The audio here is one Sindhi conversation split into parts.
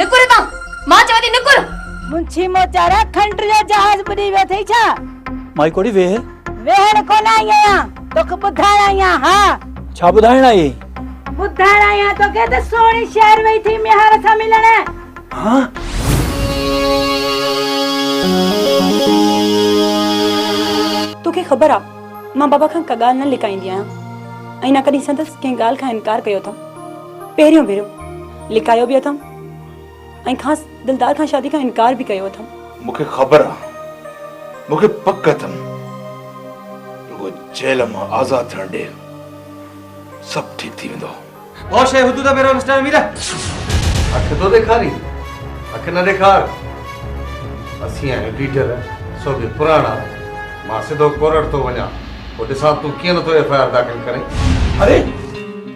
نڪر اتان! مان چوان ٿي نڪر! منشي موچارا کنڊر جو جهاز ٻڏي ويو اٿئي ڇا؟ مائي ڪوڙي ويهه! ويهڻ ڪونه آئي آهيان، توکي ٻڌائڻ آئي آهيان، ها! ڇا ٻڌائڻ آئي اهي؟ ٻڌائڻ آئي آهيان توکي ته سهڻي شهر وئي اٿئي ميهار سان ملڻ! توکي خبر آ مان بابا کان ڪا ڳالهه نه لڪائيندي آهيان ۽ نه ڪڏهن سندس ڪنهن ڳالهه کان انڪار ڪيو اٿم. پهريون ڀيرو لڪايو به اٿم ۽ خاص دلدار کان شادي کان انڪار به ڪيو اٿم. مون کي خبر آ، مون کي پڪ اٿم، رڳو جيل مان آزاد ٿيڻ ڏي، سڀ ٺيڪ ٿي ويندو. ڀؤ شيء هتو ته پهريون مسٽر امير. اک ٿو ڏيکارين، اک نه ڏيکار. اسين آهيون ڊيٽيل، سو به پراڻا. مان سڌو ڪورٽ ٿو وڃان، پوء ڏسان تون ڪيئن نٿو ايف آء آر داخل ڪرين. اري!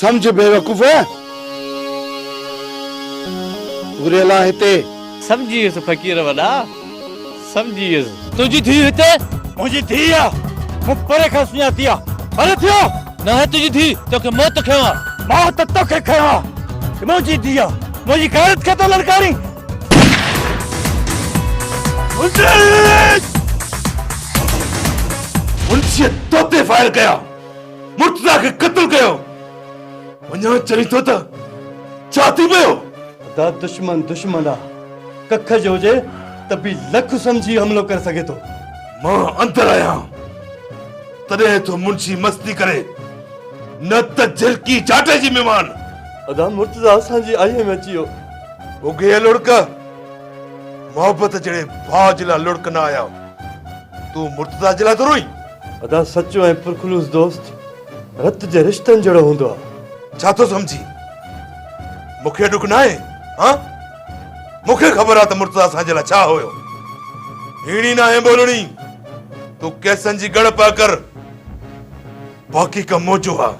سمجهه بيوقوف گهريلا هتي. سمجهي ويس فقير وڏا سمجهي ويس. تنهنجي ڌيء هتي منهنجي ڌيء آ مون پري کان سڃاتي آ ڀلي ٿيو. ناهي تنهنجي ڌيء توکي موت کنيو آ. موت توکي کنيو آ منهنجي ڌيء منهنجي غيرت کي ٿو للڪارين. انسيت توتي فائر ڪيا. مرتضيٰ کي قتل ڪيو وڃان چوين ٿو ته ڇا ٿي پيو؟ ادا دشمن دشمن آ ڪک جو هجي ته به لک سمجهي حملو ڪري سگهي ٿو. مان اندر آهيان تڏهن ٿو منشي مستي ڪري نه ته جهلڪي جاٽي جي ميمان. ادا مرتضيٰ اسان جي آئيء ۾ اچي ويو. اگهي لڙڪ محبت جهڙي ڀاء جي لاء لڙڪ نه آيا تون مرتضيٰ جي لاء ٿو روئين. ادا سچو ۽ پرخلوص دوست رت جي رشتن جهڙو هوندو آ. ڇا ٿو سمجهين؟ مون کي ڏک ناهي هان؟ مون کي خبر آ ته مرتضيٰ اسان جي لاء ڇا هيو. هيڻي ناهي ٻولڻي، تون ڪيسن جي ڳڙ پئه ڪر. باقي ڪم مون جو آ.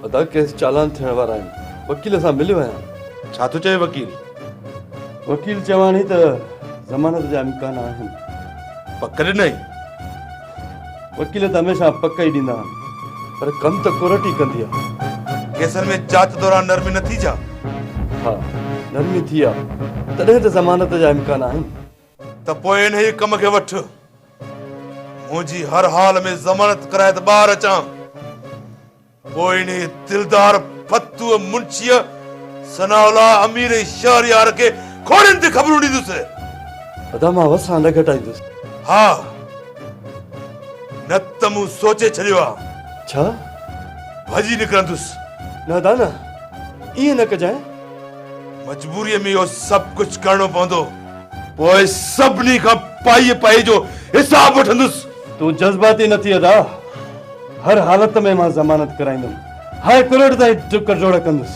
ادا ڪيس چالان ٿيڻ وارا آهن، وڪيل سان مليو آهيان. ڇا ٿو چوين وڪيل؟ وڪيل چواڻي ته ضمانت جا امڪان آهن. پڪ ڏنائين؟ وڪيل ته هميشه پڪ ئي ڏيندا آهن پر ڪم ته ڪورٽ ئي ڪندي آهي. ڪيسن ۾ جاچ دوران نرمي نه ٿي جا؟ ها نرمي ٿي آ تڏهن ته ضمانت جا امڪان آهن. ته پوء انهيء ڪم کي وٺ. منهنجي هر حال ۾ ضمانت ڪرائي ته ٻاهر اچان. پوء انهيء دلدار ڦتوء منشيء ثناء الله امير ۽ شهريار کي کوڙين تي خبرون ڏيندس. ادا مان وسان نه گهٽائيندس. ها، نه ته مون سوچي ڇڏيو آ. ڇا؟ ڀڄي نڪرندس. نه ادا نه، ائين نه ڪجانء. مجبوريء ۾ اهو سڀ ڪجهه ڪرڻو پوندو. پوء سڀني کان پائي پائي جو حساب وٺندس. تون جذباتي نه ٿي ادا، هر حالت ۾ مان ضمانت ڪرائيندم، هاء ڪورٽ تائين ڊڪ ڊوڙ ڪندس.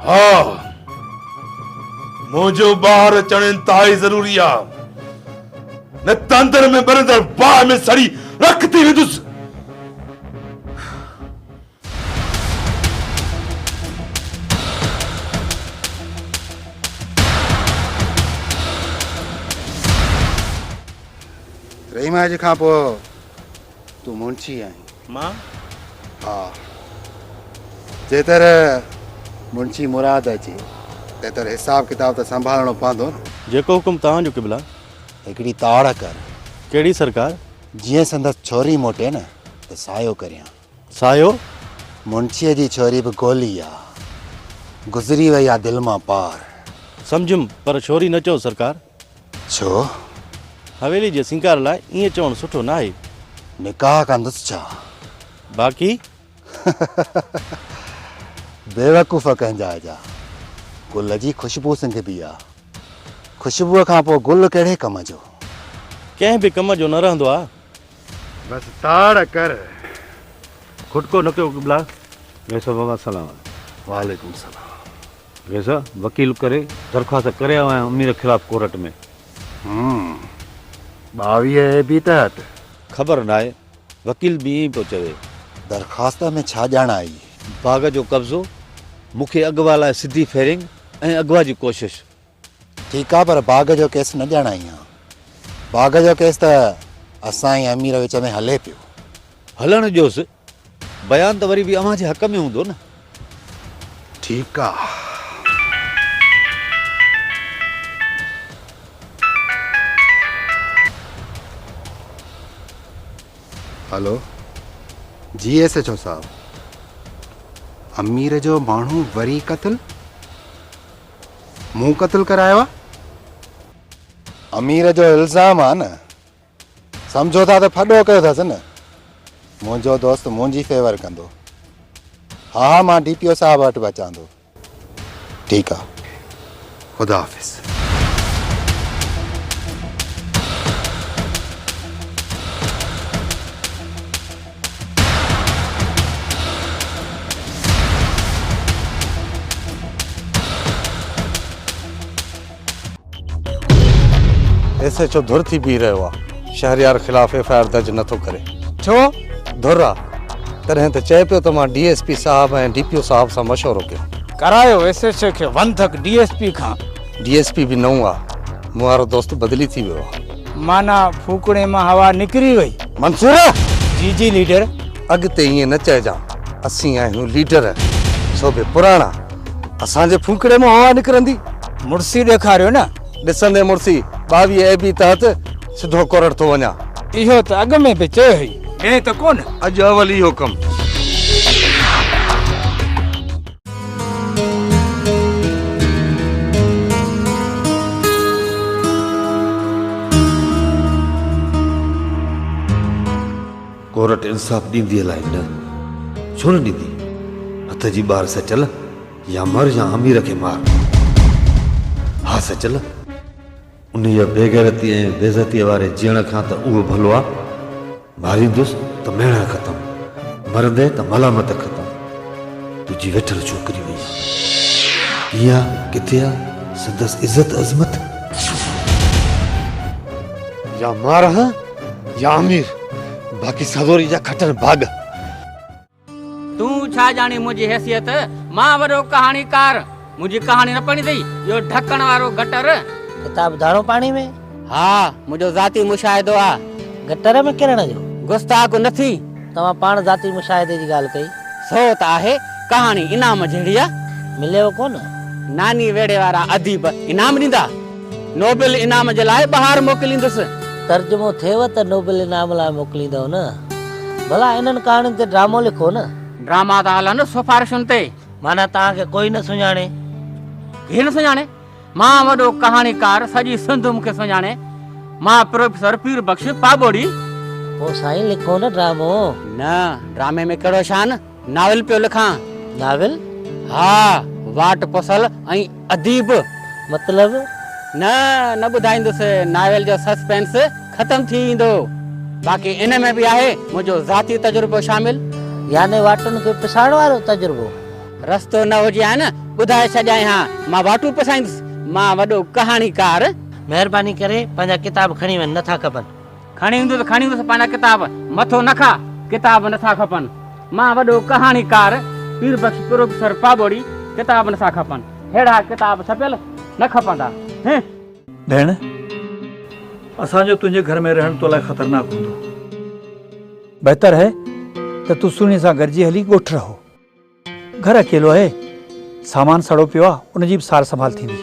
ها، منهنجو ٻاهر اچڻ انتهائي ضروري آ، نه ته اندر ۾ ٻرندڙ باهه ۾ سڙي رک ٿي ويندس. رحيم اڄ کان پوء تون منشي آهين مان ها جيتر منشي مراد اچي تيتر حساب ڪتاب ته سنڀالڻو پوندو نه جيڪو حڪم توهان جو قبلا هڪڙي تاڙ ڪر ڪهڙي سرڪار جيئن سندس ڇوري موٽي نه ته سايو ڪريان سايو، منشيء جي ڇوري به گولي آ، گذري وئي آ دل مان پار. سمجهيم، پر ڇوري نه چئو سرڪار. ڇو؟ حويلي جي سينگار لاء ائين چوڻ سٺو ناهي. نڪاح ڪندس ڇا؟ باقي؟ بيوقوف ڪنهن جاء جا. گل جي خوشبو سنگهبي آ. خوشبوء کان پوء گل ڪهڙي ڪم جو؟ ڪنهن به ڪم جو نه رهندو آ. بس تاڙ ڪر. کٽڪو نه ڪيو قبلا. ويسا بابا سلام. وعليڪم سلام. ويسا وڪيل ڪري درخواست ڪري آيو آهيان امير خلاف ڪورٽ ۾. هم ٻاويهه اي بي تحت. خبر ناهي وڪيل به ائين پيو چوي. درخواست ۾ ڇا ڄاڻ آئي. باغ جو قبضو مون کي اغوا لاء سڌي فيرنگ ۽ اغوا جي ڪوشش. ٺيڪ آ پر باغ جو ڪيس نه ڄاڻائين ها. باغ جو ڪيس ته اسان ۽ امير وچ ۾ هلي پيو. هلڻ ڏيوس. بيان ته وري به اوهان جي حق ۾ هوندو نه. ٺيڪ آ. هلو جي ايس ايڇ او صاحب. امير جو ماڻهو وري قتل؟ مون قتل ڪرايو آ. امير جو الزام آ نه سمجهو ٿا ته ڦڏو ڪيو ٿس نه منهنجو دوست منهنجي فيور ڪندو ها ها مان ڊي پي او صاحب وٽ به اچان ٿو ٺيڪ آ خدا حافظ. ايس ايچ او ڌر ٿي بيهي رهيو آ شهريار خلاف ايف آء آر درج نٿو ڪري ڇو ڌر آ تڏهن ته چئي پيو ته مان ڊي ايس پي صاحب ۽ ڊي پي او صاحب سان مشورو ڪيو ڪرايو ايس ايچ او کي ون ڌڪ ڊي ايس پي کان ڊي ايس پي به نئون آ مون وارو دوست بدلي ٿي ويو آ. معنيٰ ڦوڪڻي مان هوا نڪري وئي. منصور! جي جي ليڊر. اڳتي ائين نه چئجان. اسين آهيون ليڊر، سو به پراڻا. اسان جي ڦوڪڻي مان هوا نڪرندي. مڙسي ڏيکاريو نه. ڏسندين مڙسي، ٻاويهه اي بي تحت سڌو ڪورڙ ٿو وڃان. اهو ته اڳ ۾ به چيو هئي. ائين ته ڪونه. اڄ اول اهو ڪم. ڪورٽ انصاف ڏيندي الائي نه ڇو نه ڏيندي هٿ جي ٻار سچل يا مر يا امير کي مار ها سچل انهيء بيغيرتيء ۽ بيعزتيء واري جيئڻ کان ته اهو ڀلو آ، ماريندس ته ميڻا ختم، مرندين ته ملامت ختم، تنهنجي ويٺل ڇوڪري وئي ڪيئن آ، ڪٿي آ، سندس عزت عظمت؟ يا مارهه يا امير، باقي سروريء جا کٽن ڀاڳ. تون ڇا ڄاڻين منهنجي حيثيت، مان وڏو ڪهاڻيڪار، منهنجي ڪهاڻي نه پڙهين ٿي، اهو ڍڪڻ وارو گٽر. ڪتاب ڌاڻو پاڻي ۾. ها، منهنجو ذاتي مشاهدو آ. گٽر ۾ ڪرڻ جو. گستاخ نه ٿي. توهان پاڻ ذاتي مشاهدي جي ڳالهه ڪئي. سو ته آهي، ڪهاڻي انعام جهڙي آ. مليو ڪونه. ناني ويڙهي وارا اديب انعام ڏيندا. نوبل انعام جي لاء ٻاهر موڪليندس. ترجمو ٿئيو ته نوبل انعام لاء موڪليندؤ نه. ڀلا انهن ڪهاڻين تي ڊرامو لکو نه. ڊراما ٿا هلن سفارشن تي. معنيٰ توهان کي ڪوئي نه سڃاڻي. ڪير نه سڃاڻي؟ مان وڏو ڪهاڻيڪار سڄي سنڌ مون کي سڃاڻي. مان پروفيسر پير بخش پاٻوڙي. پوء سائين لکو نه ڊرامو. نه ڊرامي ۾ ڪهڙو شان. ناول پيو لکان. ناول؟ ها، واٽ پسل ۽ اديب. مطلب؟ نه، نه ٻڌائيندس. ناول جو سسپينس ختم ٿي ويندو. باقي ان ۾ به آهي منهنجو ذاتي تجربو شامل. يعني واٽن کي پسائڻ وارو تجربو؟ رستو نه هجي ها نه ٻڌائي ڇڏيائين ها. مان واٽون پسائيندس. مان وڏو ڪهاڻيڪار. مهرباني ڪري پنهنجا ڪتاب کڻي وڃ، نه ٿا کپن. کڻي ايندو ته کڻي ايندس پنهنجا ڪتاب مٿو نه کا ڪتاب نه ٿا کپن مان وڏو ڪهاڻيڪار پير بخش پروفيسر پاٻوڙي ڪتاب نه ٿا کپن ههڙا ڪتاب ڇپيل نه کپندا هه. ڀيڻ اسان جو تنهنجي گهر ۾ رهڻ تو لاء خطرناڪ هوندو. بهتر هي ته تون سهڻي سان گڏجي هلي ڳوٺ رهو. گهر اڪيلو آهي سامان سڙو پيو آ ان جي به سار سنڀال ٿيندي.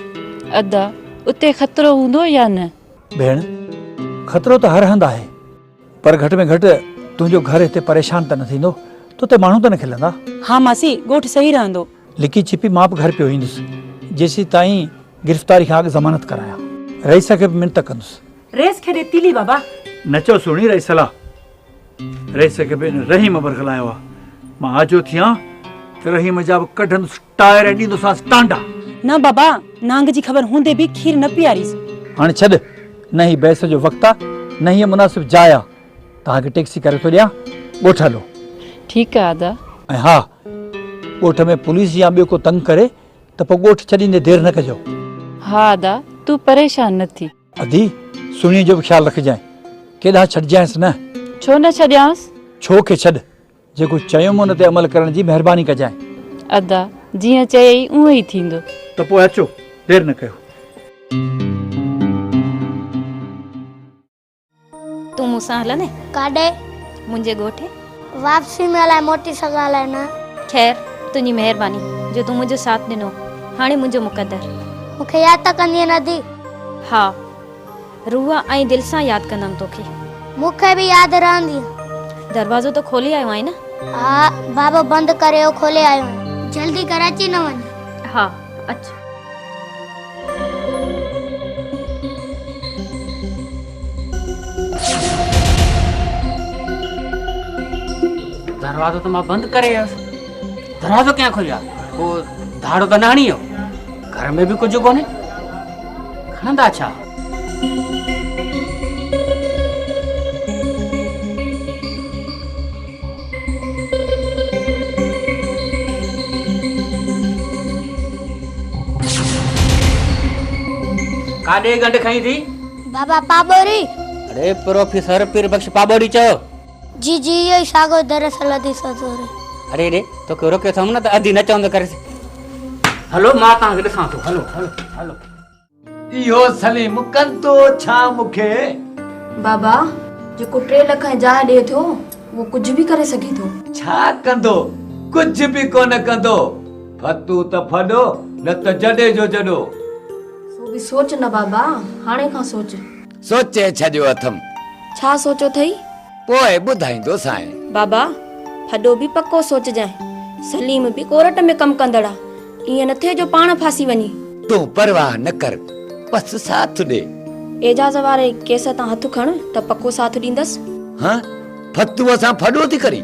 ادا اتي خطرو هوندو يا نه؟ ڀيڻ خطرو ته هر هنڌ آهي پر گهٽ ۾ گهٽ تنهنجو گهر هتي پريشان ته نه ٿيندو توتي ماڻهو ته نه کلندا. ها ماسي ڳوٺ صحيح رهندو. لڪي ڇپي مان به گهر پيو ايندس جيسين تائين گرفتاري کان اڳ ضمانت ڪرايان. رئيس کي به منت ڪندس. رئيس کي ڏي تيلي بابا. نچو سهڻي رئيس لا. رئيس کي به ان رحيم برغلايو آ. مان آجو ٿيان ته رحيم جا به ڪڍندس ٽائر ۽ ڏيندوسانس ٽانڊا. نه بابا، نانگ جي خبر هوندي به کير نه پياريس. هاڻي ڇڏ، نه هي بحث جو وقت آ، نه هيء مناسب جاء آ. توهان کي ٽيڪسي ڪري ٿو ڏيان، ڳوٺ هلو. ٺيڪ آ ادا. ۽ ها، ڳوٺ ۾ پوليس يا ٻيو ڪو تنگ ڪري ته پوء ڳوٺ ڇڏيندي دير نه ڪجو. ها ادا، تون پريشان نه ٿي. ادي! سهڻيء جو به خيال رکجانء. ڪيڏانهن ڇڏجانئس نه؟ ڇو نه ڇڏيانس؟ ڇو کي ڇڏ. جيڪو چيم ان تي عمل ڪرڻ جي مهرباني ڪجانء. ادا! جيئن چيئي اونهو ئي ٿيندو. ته پوء اچو، دير نه ڪيو. تون مون سان هلندين؟ ڪاڏي؟ منهنجي ڳوٺ. واپسي ۾ الائي موٽي سگهان الائي نه. خير، تنهنجي مهرباني جو تون منهنجو ساٿ ڏنو. هاڻي منهنجو مقدر. مون کي ياد ته ڪندين ادي؟ ها. روح ۽ دل سان ياد ڪندم توکي. مون کي به ياد رهندين. دروازو ته کولي آيو آهين نه؟ ها. بابو بند ڪريو کولي آيو آهيان. جلدي گهر اچي نه وڃ. ها. اچ. دروازو ته مان بند ڪري ويس دروازو ڪيئن کوليا پو ڌاڙو ته نه هڻي ويو گهر ۾ به ڪجهه ڪونهي کڻندا ڇا ڪاڏي گنڊ کئين ٿي؟ بابا پاٻوري. اڙي پروفيسر پير بخش پاٻوري چئو. جي جي اهو ئي ساڳيو دراصل ادي سوتوري. اڙي اڙي توکي روڪيو اٿم نه ته ادي نه چوندو ڪريس. هلو مان توهان کي ڏسان ٿو هلو هلو هلو. اهو سليم ڪندو ڇا مون کي؟ بابا جيڪو ٽي لک ۽ جاء ڏئي ٿو اهو ڪجهه به ڪري سگهي ٿو. ڇا ڪندو؟ ڪجهه به ڪونه ڪندو. ڦتون ته ڦڏو نه ته جڏي جو جڏو. سو به سوچ نه بابا هاڻي کان سوچ. سوچي ڇڏيو اٿم. ڇا سوچيو ٿئي؟ پوء ٻڌائيندوسانء. بابا، ڦڏو به پڪو سوچجانء. سليم به ڪورٽ ۾ ڪم ڪندڙ آ. ائين نه ٿئي جو پاڻ ڦاسي وڃي. تون پرواهه نه ڪر، بس ساٿ ڏي. اعجاز واري ڪيس تان هٿ کڻ ته پڪو ساٿ ڏيندس. هه، ڦتوء سان ڦڏو ٿي ڪرين.